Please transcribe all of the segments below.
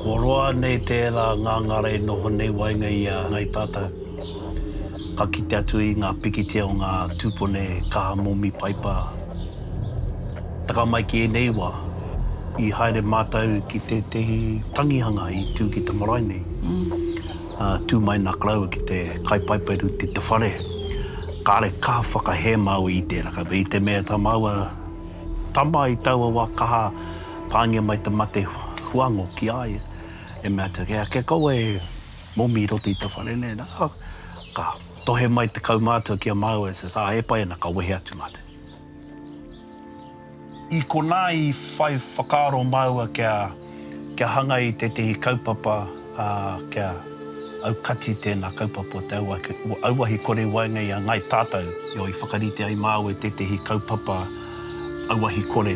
Kua roa nei tērā ngangara e noho nei waenga i a Ngai Tātou. Ka kite atu i ngā pikitia o ngā tūpone kaha momi paipa. Taka mai ki ēnei wā, i haere mātou ki tētehi tangihanga i tū ki te marae nei. Ka tū mai nā Kalaua ki te kaipaipaeru ki te whare. Kāre kaha whakahē māua i tērā. Ka i te mea tā māua tama i taua wā kaha pāngia mai te mate huango ki a ia, e mea atu, Kei a kē kaua e momi i roto i te whare nei, nā, ka tohe mai te kaumātua ki a māua, he pae ana, ka wehe atu mātou. I konā i whai whakaaro māua kia kia hanga i tētehi kaupapa, ā, kia aukati tēnā kaupapa o te auahi kore i waenga i a Ngāi Tātou. Io, i whakarite ai māua i tētehi kaupapa auahi kore.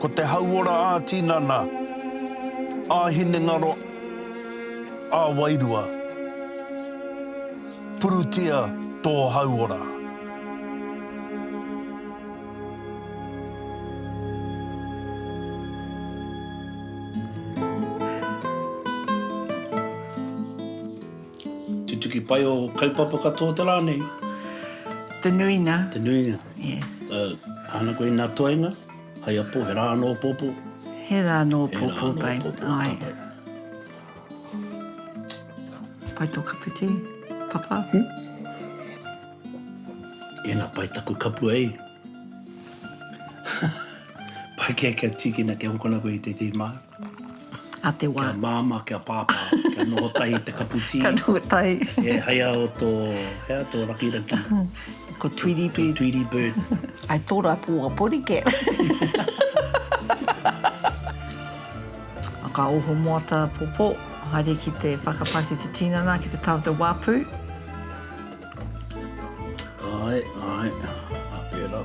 Ko te hauora ā-tinana, ā-hinengaro, ā-wairua. Purutia tō hauora. Tutuki pai ō kaupapa katoa te rā nei. Te nuinga. Te nuinga. Ana koe ina toenga, hai apo he ra no popo. He ra no popo kai. Pai to kapu ti, papa. Ina pai taku kapu ei. Pai ke kia tikina kia hokona koe i te te ma. a te wā. Kia māmā, kia pāpā, kia noho tahi te kapu tī. Kia noho tahi. E hai a o tō, hea, o tō rakiraki. Ko Tweedy Bird. Ko Tweedy Bird. Ai tō rā pō a Porike. Ka oho moata pōpō, haere ki te whakapā ki te tīnana, ki te tau te wāpu. Ai, ai, a pērā.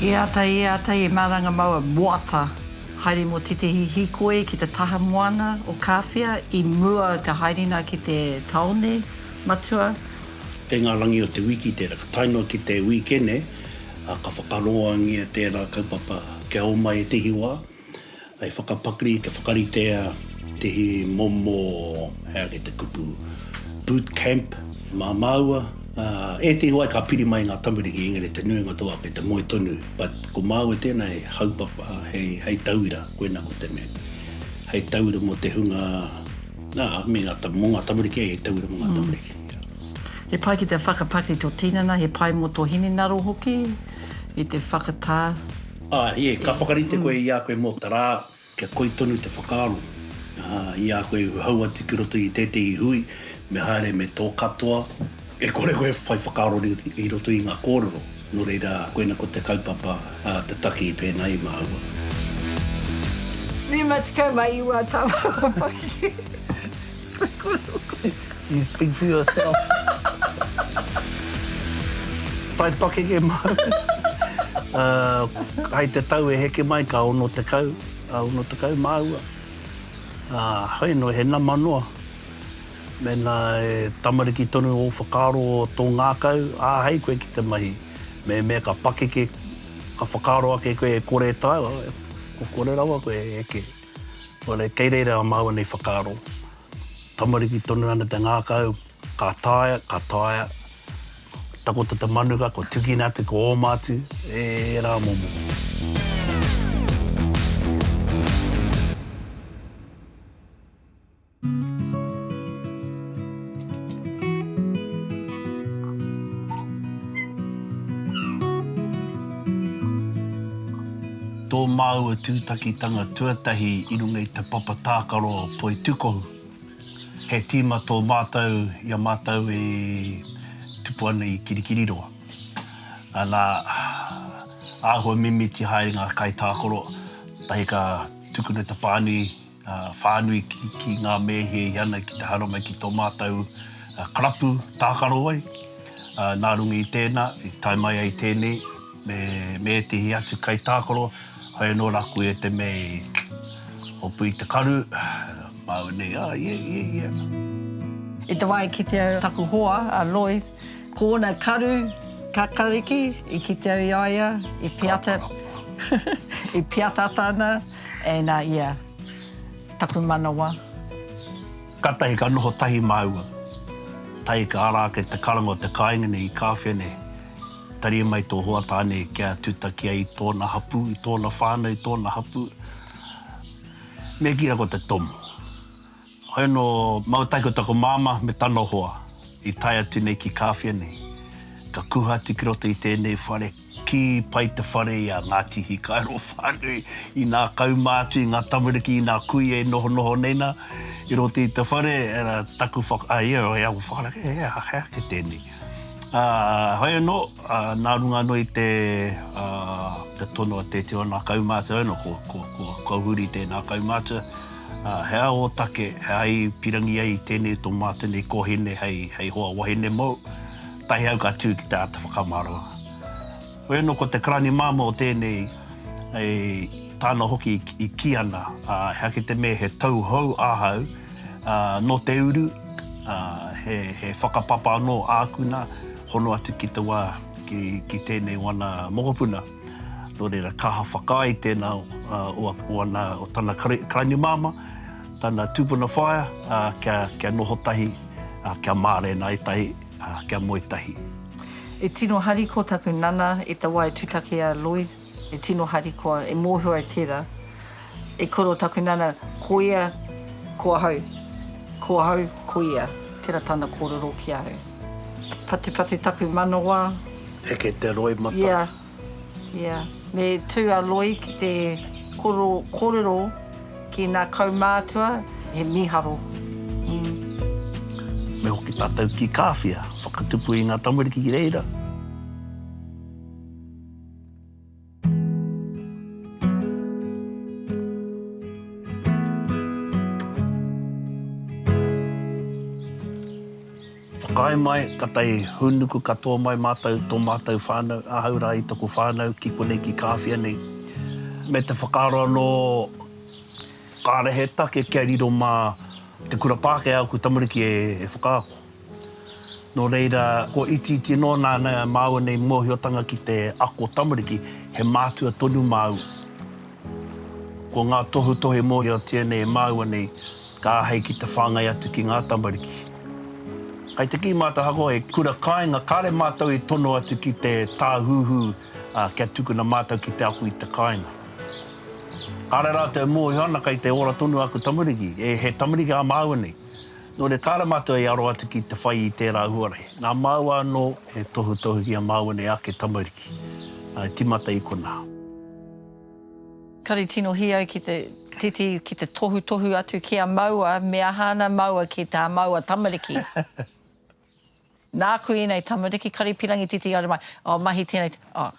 E ata, e ata, e maranga mau a Moata. Haere mo tetehi hikoi ki te taha moana o Kawhia i mua ka haere na ki te taone matua. Kei ngā rangi o te wiki tērā. Ka tae noa ki te wīkene, ka whakaroangia tērā kaupapa kia oma ētehi wā. I whakapakari te whakaritea te hi momo, hei ake te kupu, boot camp, mā māua, ā, ētehi wā ka piri mai ngā tamariki, engari te nuinga tō ake te moe tonu, but ko māua tēnā hei haupapa, hei, hei tauira, koinā ko te mea, hei tauira mō te hunga, ā, me ngā, mō ngā tamariki, hei tauira mō ngā tamariki. He pai ki te whakapakari tō tinana, he pai mō tō hinengaro hoki i te whakatā. Ā, ē, ka whakarite koe i a koe mō te rā, kia koi tonu te whakaaro, ā, i a koe e uhau atu ki roto i tētehi hui, me haere me tō katoa, e kore koe e whai whakaaro i roto i ngā kōrero, nō reira, koina ko te kaupapa, ā, te taki pēnā i māua. 59 tau o Paki. You speak for yourself. Tai pakeke maru. Hai te tau e heke mai ka ono tekau, ono tekau māua. Hoi no he nama noa. Mena e tamariki tonu o whakaaro o to ngakau, ahei koe ki te mahi. Me mea ka pakeke, ka whakaaro ake koe e kore taua, ko kore rawa koe e heke. Oire, kei reira a māua nei whakaaro, tamariki tonu ana te ngākau, ka taea, ka taea, takoto te manuka, kua tukina atu, kua oma atu, e rā momo. Tō māua tūtakitanga tuatahi i runga i te papa tākaro poitūkohu. He tīma tō mātou i a mātou e tupu ana i Kirikiriroa. Ana, āhua mimiti haere ngā kaitākaro, tahi ka tukuna te pānui whānui ki ngā mēhi e hia ana ki te haere mai ki tō mātou karapu tākaro ai. Nā runga i tēnā, i tae mai ai tēnei, me ētehi atu kaitākaro, whai anō rāku e te mea i hopu i te karu, māu nei, ā, ia, ia, ia. I te wā i kite au taku hoa, a Lloyd, ko ōna karu kakariki, i kite au i a ia, i piata, i piatata ana. E na ia taku manawa. Katahi ka noho tahi maua. Tahi ka ara ake te karanga o te kainga nei i Kawhia nei. Tari mai to hoa tane kia tutaki ai i tona hapu, i tona whanau, i tona hapu. Me kira ko te tomo. Hoi anō, mau tahi ko taku māmā me tana hoa i tae atu nei ki Kāwhia nei. Ka kuha atu ki roto i tēnei whare, kī pai te whare i a Ngāti Hikairo whānui, inā kau mā atu i ngā tamariki, inā kuia e nohonoho nei nā, i roto i te whare, ā, taku whak, ā, ia hoi aku whakaara, e, he aha, he aha kē tēnei. Ā, hoi anō, ā, nā runga anō i te, ā, te tono a Tēteona kaumātua, hoi anō, ko, ko, ko, ko Huri tēnā kaumātua, Ā, he aha ō take, he aha i pirangi ai i tēnei tō mā tēnei kōhine hei, hei hoa wahine mōu? Tahi au ka tū ki te āta whakamaroa. Hoi anō ko te karani māmā o tēnei, e, tāna hoki i kī ana, ā, he ake te mea he tauhou ahau, ā, nō te uru, ā, he, he whakapapa anō āku nā, hono atu ki te wā, ki, ki tēnei wana mokopuna. Nō reira, ka aha whakaae tēnā o ana, o tana karainimāmā, tana tūpuna whaea, kia noho tahi, kia mārena ai tahi, kia moe tahi. E tino harikoa taku nana e te wā e tutaki e a Lloyd, e tino harikoa, e mōhio ai tērā. E koro taku nana, ko ia, ko ahau, ko ahau, ko ia, tera tana korero ki ahau. Patupatu taku manawa. Heke te roimata. Ia, ia. Me tu a Loi ki te korero, korero ki na kaumātua, he miharo. Umm. Me hoki tatou ki Kawhia, whakatupu i nga tamariki ki reira. Whakaae mai, ka tae hūnuku katoa mai mātou, tō mātou whānau, ahau rā i taku whānau ki konei ki Kāwhia nei, me te whakaaro anō kāre he take kia riro mā Te kura Pākehā oku tamariki e whakaako. Nō reira, kua itiiti noa nāna māua nei mōhiotanga ki te ako tamariki, he mātua tonu māua. Ko ngā tohutohu e mōhiotia nei e māua nei, ka āhei ki te whāngai atu ki ngā tamariki. Kai te kī mātou ahakoa he kura kāinga, kāre mātou i tono atu ki te tāhuhu, Ā, kia tukuna mātou ki te ako i te kāinga. Kāre rātou e mōhio ana kei te ora tonu aku tamariki, e, he tamariki ā māua nei. Nō reira, kāre mātou e aro atu ki te whai i tērā huarahi. Nā māua anō e tohutohu ki a māua nei ake tamariki, ā, e tīmata i konā. Kare tino hī au ki te titi, ki te tohutohu atu ki a māua, me aha ana māua ki tā māua tamariki. Nāku ēnei tamariki, Karipirangi titi haere mai, oh mahi tēnei te, oh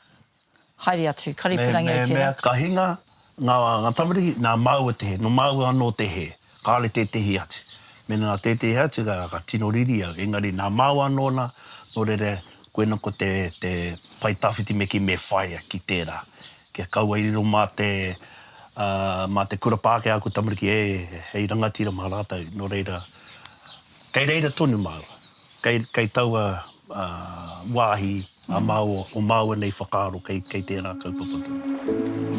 haere atu, Karipirangi au tēnā. Ka hinga ngā tamariki, nā māua te hē, nō māua anō te hē, kāore tētehi atu. Mēnā nā tētehi atu rā, ka tino riri au, engari nā māua anō nā, nō reira, koina ko te pae tawhiti me kī me whāia ki tērā. Kia kaua i riro mā te, ā, mā te kura Pākehā ko tamariki e, hei rangatira mā rātou, nō reira, kei reira tonu māua. Kei, kei taua, ā, wāhi a māua, o māua nei whakaaro kei, kei tērā kaupapa tonu.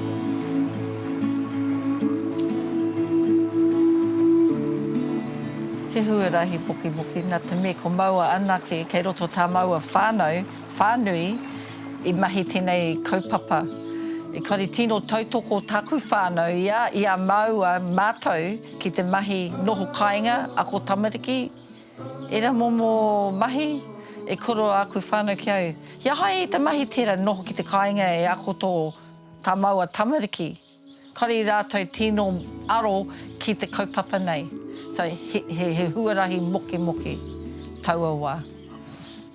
He huarahi pukipukina te me ko māua anake kei roto tā māua whānau. Whānui, i mahi tēnei kaupapa. Engari tino tautoko tāku whānau i a, i a māua mātou ki te mahi noho kāinga, ako tamariki, ērā momo mahi e koro āku whānau ki au. He aha i te mahi tērā noho ki te kāinga e ako tō, tā māua tamariki? Kare rātou tino aro ki te kaupapa nei. So, he huarahi mokemoke taua wā.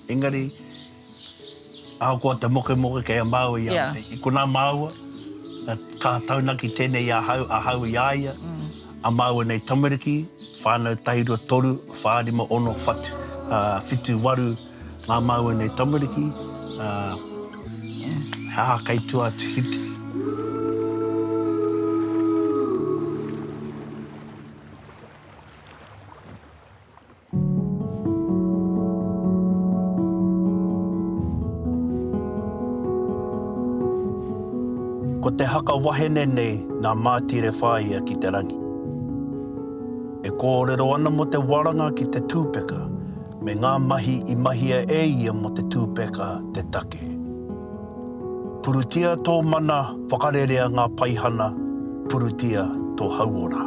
Engari, ahakoa te mokemoke kei a māua i a rātou, i konā māua, ka taunaki tēnei i ahau, ahau i a ia, a māua nei tamariki, whānau, tahi, rua, toru, whā, rima, ono, whatu, whitu, waru, Ngā māu enei tamariki, he aha kei tua atu ki te. Ko te haka wahene nei nā Mātire Whāia ki te rangi. E kōrero ana mō te waranga ki te tūpeka. me ngā mahi i mahia e ia mō te tūpeka te take. Purutia tō mana Whakarerea ngā paihana Purutia tō hauora.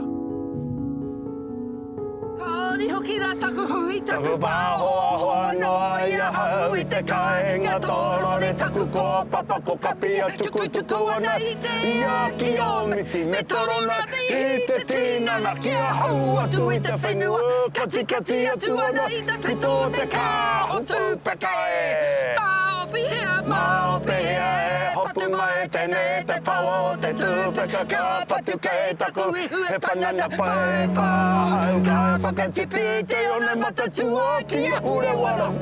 Kāore hoki rā taku hui, taku pāhoahoa Noa i ahau i te kāinga tōrore Taku kōpapa ko Kapia tukutuku ana i te iā Ki ō miti me torona I te tinana ki ahau atu i te whenua Katikati atu ana i te pito o te kā o Tūpeka e Mā o pihea, mā o pihea e Patu mai tēnei e te pawa o te Tūpeka Ka patu kei taku ihu he panana pae pā ahau Ka whakatipu i te one matatuā ki ahu rewara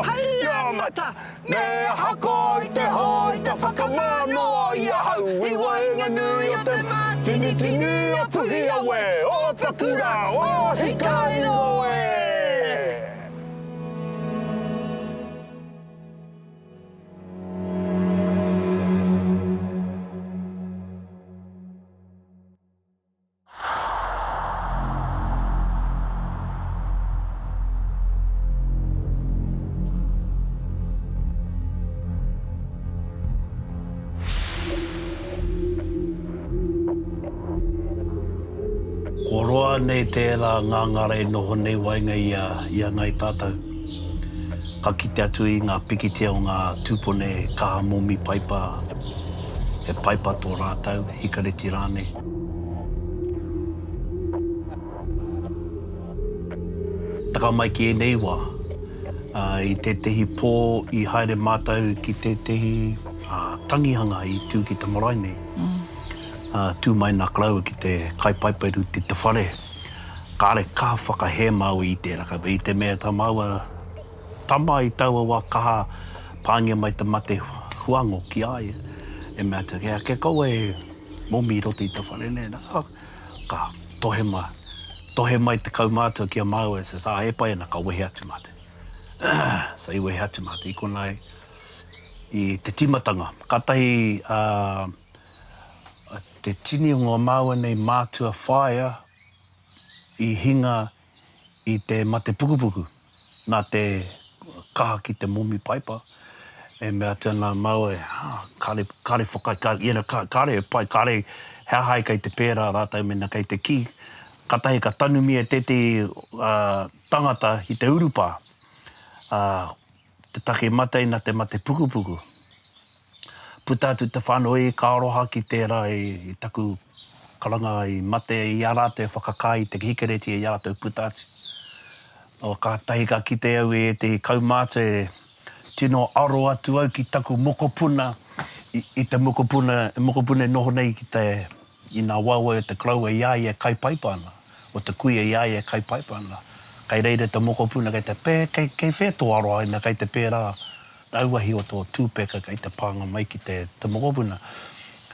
Hei a mata! Me hako i te hō, i te whakamā noa i ahau I waenganui o te mātinitini a Puhiawe Ō paku rā, ō hikairo e! Kua roa nei tērā ngangara e noho nei waenga i a, i a Ngāi Tātau. Ka kite atu i ngā pikitia o ngā tūpone kaha momi paipa. He paipa tō rātou, hikareti rānei. Taka mai ki ēnei wā, i tētehi pō i haere mātou ki tētehi tangihanga i tū ki te marae nei. Tū mai nā Kalaua ki te kai paipa i roto i te whare. Kāre kaha whakahē Māui i tērā kapa, i te mea tā māua Tama i taua wa kaha, paingia mai te mate huango ki a ia, e mea atu, Kei a ke kaua e momi i roto i ta whare nei? Na, ka tohe ma, tohe mai te kaumatua ki a maua, e says, Ah, e pai ana, ka wehe atu matou. So i wehe atu matou, i kona ai, i te timatanga. Katahi a, a te tini o nga maua nei matua whaea i hinga i te mate pukupuku, nā te kaha ki te momi paipa, e mea atu ana a Maui, ah, kāre, kāre whakai, kāre, you know, kā, kāre e pai, kāre he aha e kei te pērā rātou mēnā kei te kī, kātahi ka tanumia tētehi, ah, tangata i te urupā, ah, Te take matei na te mate pukupuku. Puta atu te whanoi ka aroha ki tera i taku karanga i mate i a ratou e whakakai i te hikereti i a ratou puta atu. O katahi ka kite au i etehi kaumātua e tino aro atu au ki taku mokopuna i te mokopuna e noho nei ki te I nā waewae o te Karaua i a ia e kaipaipa ana, o te kuia i a ia e kaipaipa ana. Kai reira te mokopuna kei te pē, kei, kei whē tō aroha ina kei te pērā auahi o tō tūpeka kei te pānga mai ki te, te mokopuna.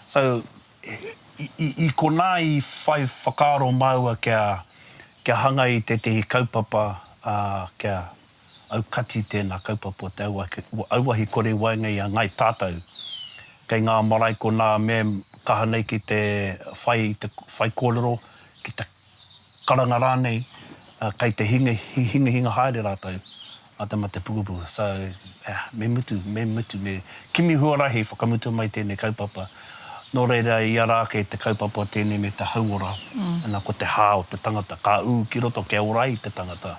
So, i, i, i konā i whai whakaaro māua kia, Kia hanga i tētehi kaupapa, ā, kia aukati tēnā kaupapa o te auahi kore i waenga i a Ngāi Tātou. Kei ngā marae konā me kaha nei ki te whai i te whaikōrero, ki te karanga rānei, kei te hingihinga haere rātou. a te mate pukupuku. So, me mutu, me mutu, me kimi huarahi whakamutua mai tēnei kaupapa. Nō reira, i ara ake te kaupapa o tēnei me te hauora, ana, ko te hā o te tangata, ka ū ki roto kia ora ai te tangata.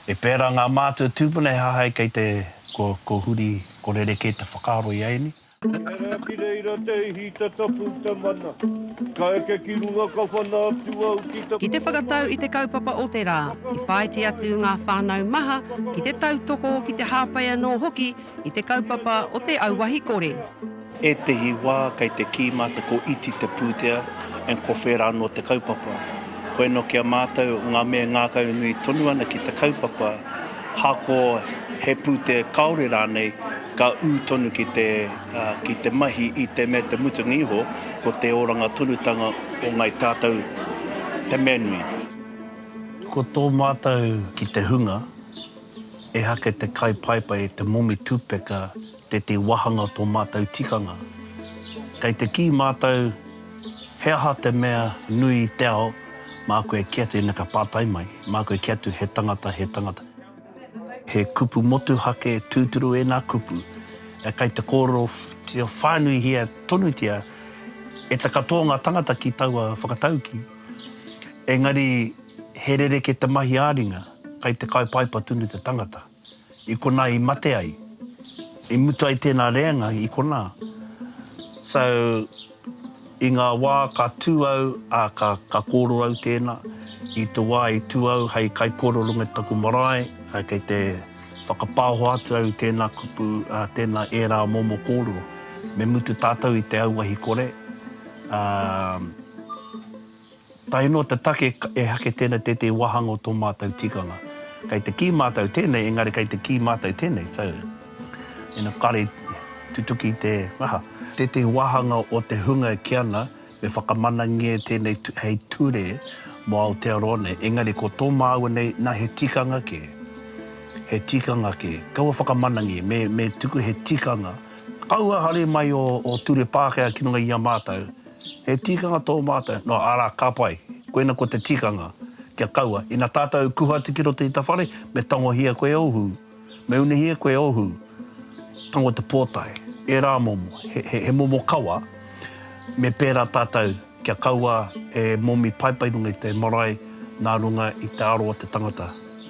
E pērā ngā mātua tūpuna he hahai kei te, ko, ko huri, ko rerekē te whakaaro i a ēnei. Ehara ki reira te ihi te tapu te mana Ka eke ki runga ka whana atu au ki te. Ki te whakatau i te kaupapa o te rā, i whāiti atu ngā whānau maha ki te tautoko, ki te hāpai anō hoki i te kaupapa o te auahi kore. Ētehi wā kei te kī mātou ko iti te pūtea and ko whērā anō te kaupapa. Koinō ki a mātou ngā mea e ngākaunui tonu ana ki te kaupapa, hako, he pūtea kāore rānei, ka ū tonu ki te, ki te mahi i te mea te mutunga iho, ko te oranga tonutanga o Ngāi Tātou te mea nui. Ko tō mātou ki te hunga, ehake te kai paepae i te momi tupeka Te te wahanga tō mātou tikanga. Kei te kī mātou he aha te mea nui i te ao, mā koe kē atu ina ka pātai mai, mā koe kē atu he tangata, he tangata. He kupu motuhake tūturu ēnā kupu, kei te kōrerotia whānuihia tonutia e te katoa o ngā tangata ki taua whakataukī. Engari he rerekē te mahi ā-ringa, kei te kaipaipa tonu te tangata. i konā i mate ai, i mutu ai tēnā rēanga i konā. So, i ngā wā ka tū au, ā, ka, ka kōrero au tēnā, i te wā i tū au hei kaikōrero runga i taku marae, ā, kei te whakapāho atu au i tēnā kupu, ā, tēnā ērā momo kōrero. Me mutu tātou i te auahi kore, ā, Tae noa te take e hake tēnei tētehi wāhanga o tō mātou tikanga. Kei te kī mātou tēnei, engari kei te kī mātou tēnei, so ina kare tutuki te aha. Tētehi wāhanga o te hunga e kī ana, me whakamanangia e tēnei hei ture mō Aotearoa nei, engari ko tō māua nei, nā he tikanga kē, he tikanga kē. Kaua whakamanangi, me tuku he tikanga. Kaua haere mai ō ture Pākehā ki runga i a mātou. He tikanga tō mātou, nō, arā, ka pai, koina ko te tikanga, kia kaua, ina tātou kuhu atu ki roto i ta whare, me tangohia koe o hū, me unihia koe o hū, tango te pōtae, ērā momo, he, he momo kawa, me pērā tātou, kia kaua e momi paipai runga i te marae nā runga i te aro o te tangata.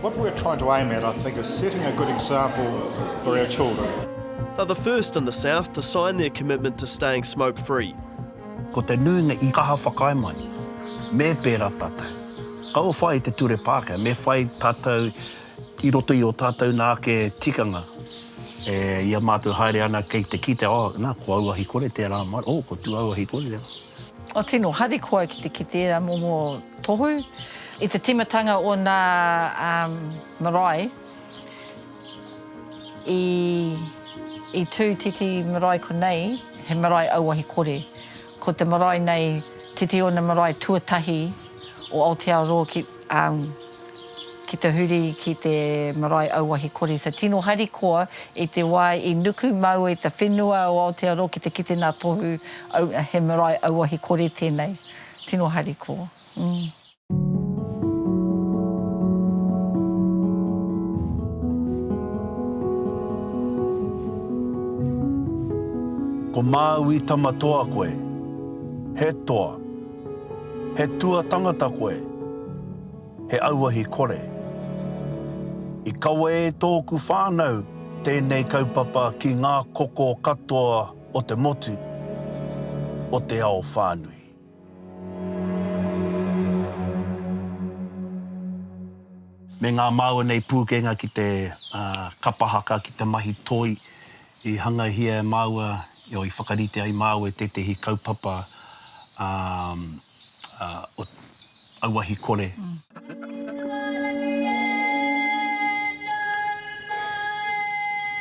What we're trying to aim at, I think, is setting a good example for our children. They're the first in the south to sign their commitment to staying smoke free. Ko te nuinga i kaha whakaae mai, me pērā tātou. Kaua whai te ture Pākehā, me whai tātou i roto i ō tātou nā ake tikanga e ia mātou haere ana kei te kite, oh, nā, ko auahi kore tērā, oh, ko tū auahi kore tērā. O tino harikoa ki te kite era momo tohu. I te timatanga o na marae i i tu titi marae konei he marae auahi kore. Ko te marae nei titi ona marae tuatahi o Aotearoa ki Ki te huri ki te marae auahi kori te tino harikoa i te wā i nuku māua i te whenua o Aotearoa ki te kite nā Tohu aua he marae auahi kori tēnei. Tino harikoa. Umm. Ko Māui tama toa koe. He toa. He tua tangata koe. he auahi kore. I kawe e tōku whānau tēnei kaupapa ki ngā koko katoa o te motu, o te ao whānui. Me ngā māua nei pūkenga ki te kapa haka, ki te mahi toi. I hangaihia e māua, i whakarite ai māua i tētehi kaupapa o auahi kore.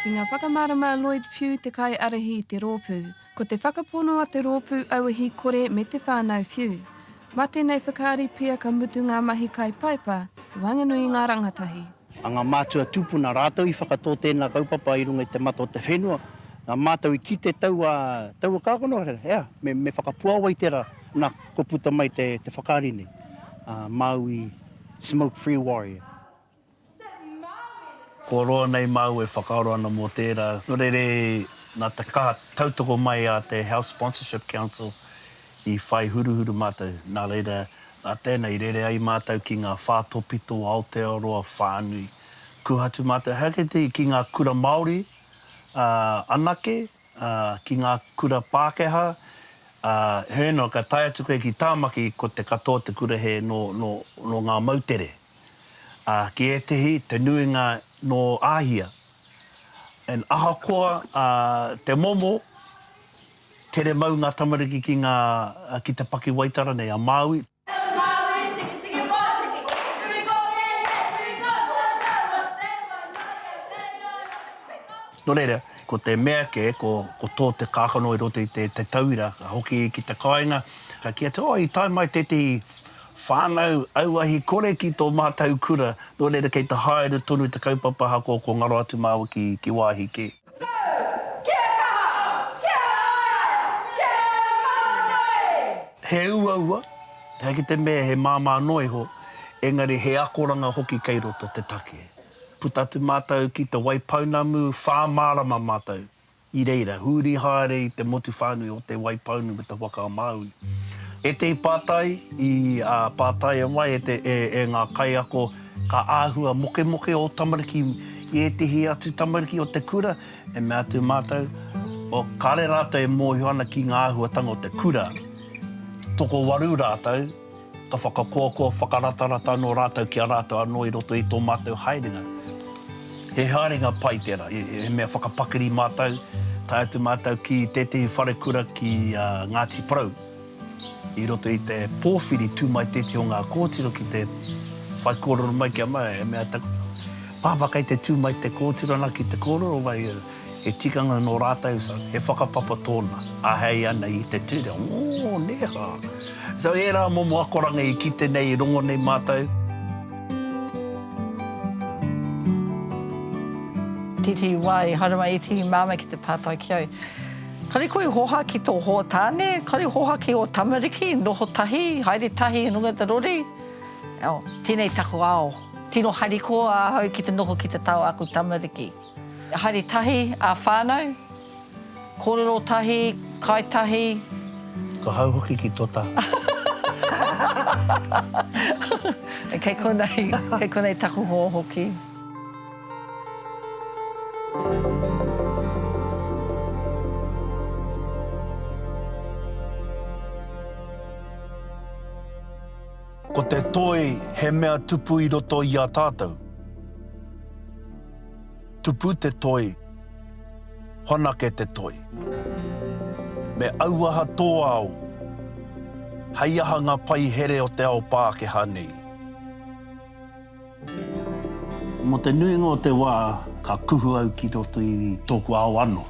Ki ngā whakamārama a Lloyd Pugh te kaiarahi i te rōpū, Ko te whakapono a te rōpū auahi kore me te whānau whiu. Mā tēnei whakaari pea ka mutu ngā mahi kai Paepa, waenganui i ngā rangatahi. A ngā mātua tūpuna rātou i whakatō tēnā kaupapa i runga i te mata o te whenua, nā mātou i kite taua, taua kākano, ea, me, me whakapuawa i tērā, nā, kua puta mai te, te whakaari nei, a, Māui Smoke Free Warrior. Kua roa nei māu e whakaaro ana mō tērā. Nō reira, nā te kaha tautoko mai a te Health Sponsorship Council i whai huruhuru mātou. Nā reira, nā tēnā i rere ai mātou ki ngā whā tōpito o Aotearoa whānui. Kua atu mātou he ake te ki ngā kura Māori anake, ki ngā kura Pākehā. Heoi anō, ka tae atu koe ki Tāmaki, ko te katoa o te kura hē nō ngā moutere. ā, ki ētehi te nuinga nō Āhia. And ahakoa ā, te momo, tere mau ngā tamariki ki ngā, ki te pakiwaitara nei a Māui. Nō reira, ko te mea kē, ko, ko tō te kākano i roto i te, te tauira, ka hoki ki te kāinga, ka kī atu, oh, i tae mai tētehi Whānau, auahi kore ki tō mātau kura, nō reira kei te haere tonu te kaupapa ahakoa ko ngaro atu māua ki, ki wāhi kē. He uaua, he ake te mea he māmā noa iho, engari he akoranga hoki kei roto te take. Puta atu mātau ki te Waipounamu, whā mārama mātau. I reira, huri haere i te motu whānui o Te Waipounu me Te Whakaamāui. Ētehi pātai i pātaia mai e ngā kaiako ka āhua mokemoke ō tamariki i ētehi atu tamariki o te kura, e mea atu mātou, kāre rātou e mōhio ana ki ngā āhuatanga o te kura, tokowaru rātou. Ka whakakoakoa whakaratarata anō rātou ki a rātou anō i roto i tō mātou haerenga. He haerenga pai tērā, he mea whakapakiri mātou, tae atu mātou ki tētehi wharekura ki a Ngāti Porou i roto i te pōwhiri tū mai tētehi o ngā kōtiro ki te whai kōrero mai ki a mātou, he mea taku pāpā kei te tū mai te kōtiro ana ki te kōrero mai, He tikanga nō rātou, so he whakapapa tōna, āhei ana i te ture, ō, nē hā. So ērā momo akoranga i kite nei, i rongo nei mātou. Titi, Wā, e haere mai e Tihi māmā ki te pātai ki au. Kāre koe i hoha ki tō hoa tāne, kāre i hoha ki ō tamariki, noho tahi, haere tahi i runga i te rori. Tēnei taku ao, tino harikoa ahau ki te noho ki te tao a aku tamariki. Haere tahi a whanau, korero tahi, kai tahi. Ka hau hoki ki to taha. Kei konei, kei konei taku ho hoki. Ko te toi he mea tupu i roto i a tatou. Tupu te toi, whanake te toi. Me auaha tō ao hei aha ngā paihere o te ao Pākehā nei. Mō te nuinga o te wā, ka kuhu au ki roto i tōku ao anō.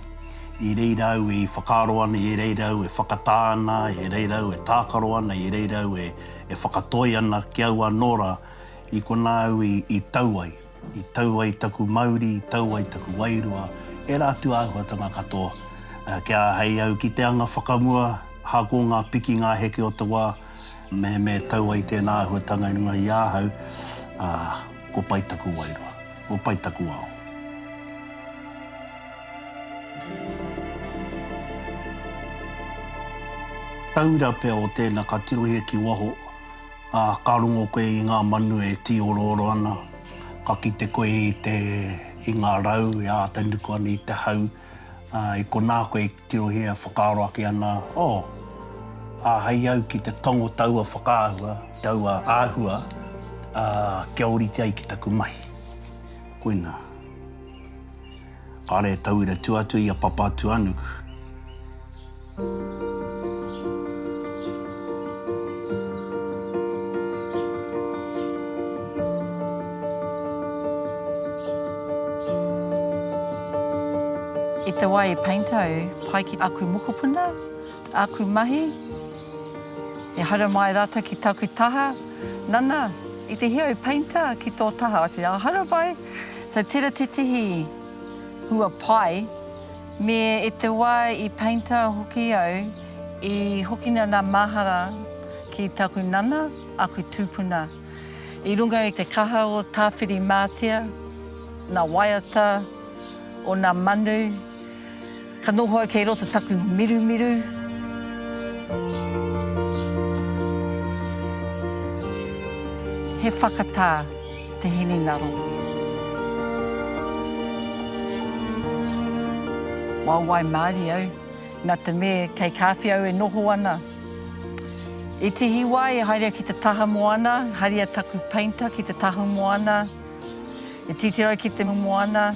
I reira au e whakaaro ana, i reira au e whakatā ana, i reira au e tākaro ana, i reira au e whakatoi ana ki au anō rā, i konā au i tau ai. I tau ai taku mauri, i tau ai taku wairua, ērā atu āhuatanga katoa. Kia āhei au ki te anga whakamua, hāko ngā piki, ngā heke o te wā, mehemea e tau ai tēnā āhuatanga i runga i ahau, ā, kua pai taku wairua, kua pai taku ao. Taura pea o tēnā ka tirohia ki waho. Ā, ka rongo koe i ngā manu e tīorooro ana, ka kite koe i te, i ngā rau e āta nuku ana i te hau, ā, i konā koe e tirohia, whakaaro ake ana, Oh! Āhei au ki te tongo taua whakaahua, taua āhua, ā, kia ōrite ai ki taku mahi. Koinā. Kāre e tauira tua atu i a Papatūānuku. I te wā e Painter au, pai ki aku mokopuna, aku mahi, i haere mai rātou ki taku taha, nana, i te hia e Painter ki tō taha, I said, oh, haere mai. So tera tetihi hua pai me e te wa i painter hoki au i hokina na mahara ki taku nana aku tupuna i runga i te kaha o Tawhiri Matia, na waiata o na manu, Ka noho au kei roto taku mirumiru. He whakatā te hininaro. Waewae māri au, na te me kei kāwhi au e noho ana. I tihi wā i haerea ki te taha moana, haria taku painter ki te tahu moana, i titiro ki te moana.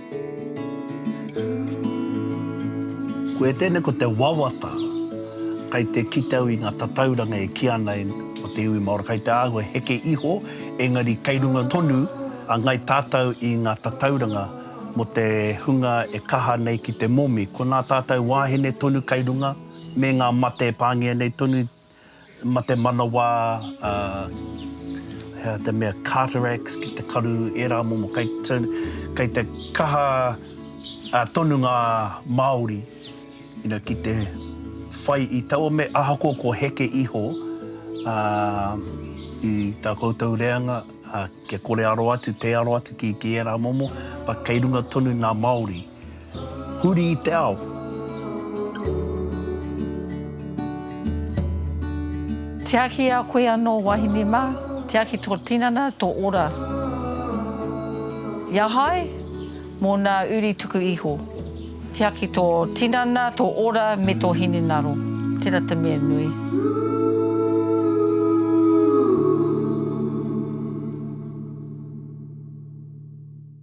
Koia tēnei ko te wawata kei te kite au i ngā tatauranga e kī ana ko te iwi Māori kei te āhua heke iho, engari kei runga tonu a Ngai Tātou i ngā tatauranga mō te hunga e kaha nei ki te momi. Ko nā tātou wāhine tonu kei runga, me ngā mate e pāngia nei tonu. Ma te manawa, a, hea te mea, cataracts, ki te karu, era momo, kei, so, kei te kaha a, tonu nga Maori, you know, ki te whai i taua me, ahakoa ko heke iho, a, i ta koutou reanga, a, kia kore aro atu, tei aro atu ki, ki era momo, but kei runga tonu nga Maori. Huri i te ao. Tiaki i a koe anō, wahine mā, tiaki tō tinana, tō ora. Ia hai, mō nā uri tuku iho. Tiaki tō tinana, tō ora me tō hinengaro. Tērā te mea nui.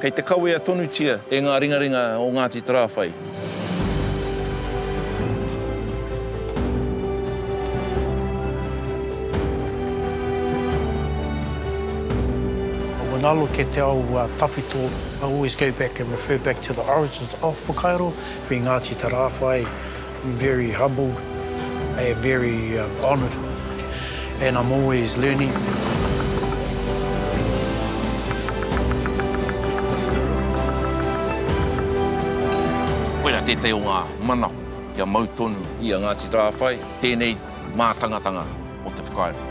Kei te kawea tonutia e ngā ringaringa o Ngāti Tarāwhai. When I look at te ao tawhito, I always go back and refer back to the origins of Whakairo, me Ngāti Tarāwhai. I'm very humbled and very honoured and I'm always learning. Koirā tētahi o ngā mana kia mau tonu i a Ngāti Tarāwhai tēnei mātangatanga o te whakairo.